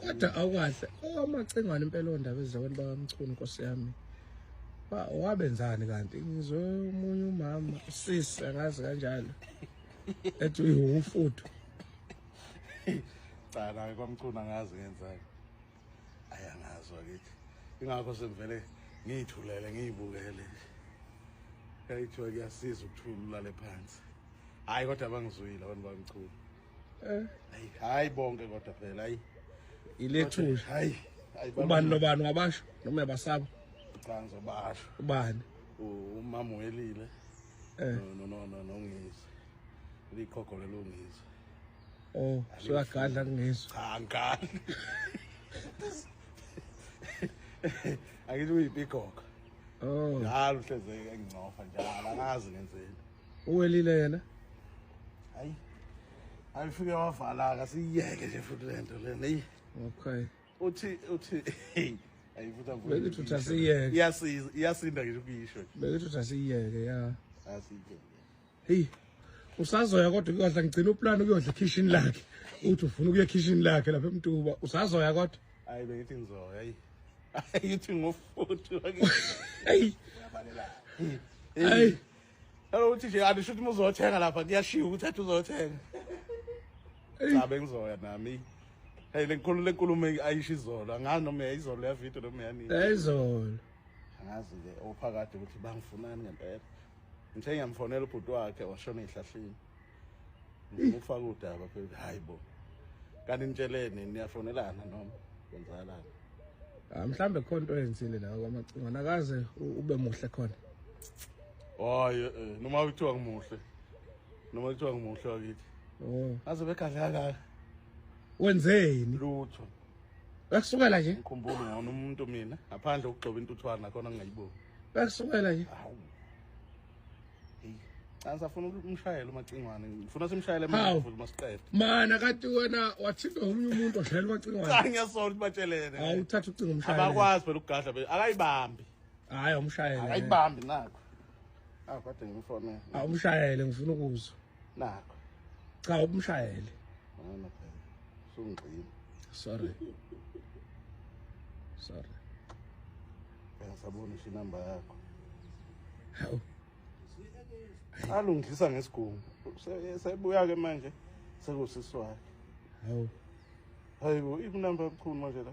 kodwa awukahle owamacengwane impela ondaba ezizabantu bakamchunu nkosi yami wabenzani kanti ngizwe omunye umama usisi angazi kanjalo ethi uyiwumfuthu cha naye kwamchunu angazi ngenzani ayangazi wakithi ingakho sengivele ngiyithulele ngiyibukele kayithiwa kuyasiza ukuthula ulale phansi hhayi kodwa bangizwile abantu bamchunu eh. hayi hayi bonke kodwa phela hayi ilethuli hayi ubani nobani wabasho noma yabasaba cha ngizobasho ubani umama welile eh. no no no no ngizwe likhokho lelungizwe oh soyagadla kungizwe cha ngadla angithi uyipikhoka oh njalo hleze engcofa njalo angazi ngenzeni uwelile yena hayi ayifike wavalaka siyeke nje futhi le nto lena eyi okay uthi uthi ayifuthi avule belithi uthi asiyeke iyasiza iyasinda ngisho ukuyisho belithi uthi asiyeke ya asiyeke heyi usazoya kodwa kuyodla ngigcina uplan ukuyodla ekhishini lakhe uthi ufuna ukuya ekhishini lakhe lapha emtuba usazoya kodwa hayi bengithi ngizoya hayi ayithi ngofuthi hayi hayi Hello uthi nje andisho ukuthi muzothenga lapha kuyashiya ukuthi athi uzothenga. Cha bengizoya nami. Hey lenkulu lenkulumo ayisho izolo angazi noma yayizolo ya video noma yanini. Yayizolo. Angazi ke ophakade ukuthi bangifunani ngempela. Ngithe ngiyamfonela ubhuti wakhe washona ehlahleni. ngifaka udaba phela hayi bo kanti nitsheleni niyafonelana noma kwenzakalani ah mhlambe khona into eyenzile nawe kwamacingo nakaze ube muhle khona hayi eh, noma kuthiwa ngimuhle noma kuthiwa ngimuhle wakithi oh aze begadla kaka wenzeni lutho Bakusukela nje. Ngikhumbula ngona umuntu mina ngaphandle ukugcoba intuthwana khona ngingayiboni. Bakusukela nje. Hawu. Hey. Ansa funa umshayele umacingwane. Ngifuna simshayele manje futhi masiqede. Mana kati wena wathintwa omunye umuntu oshayela umacingwane. Cha ngiyasola ukuthi batshelene. Hawu uthatha ucingo umshayele. Abakwazi phela ukugadla be akayibambi. Hayi umshayele. Akayibambi nakho. Ah kade ngimfonela. Awumshayele ngifuna ukuzwa. Nakho. Cha ubumshayele. Ngona phela. Sungqini. Sorry. Sorry. Ngisabona isho inamba yakho. Hawu. Alungisa ngesigungu. Sebuya ke manje sekusiswakhe. Hawu. Hayibo ikunamba ebukhulu manje la.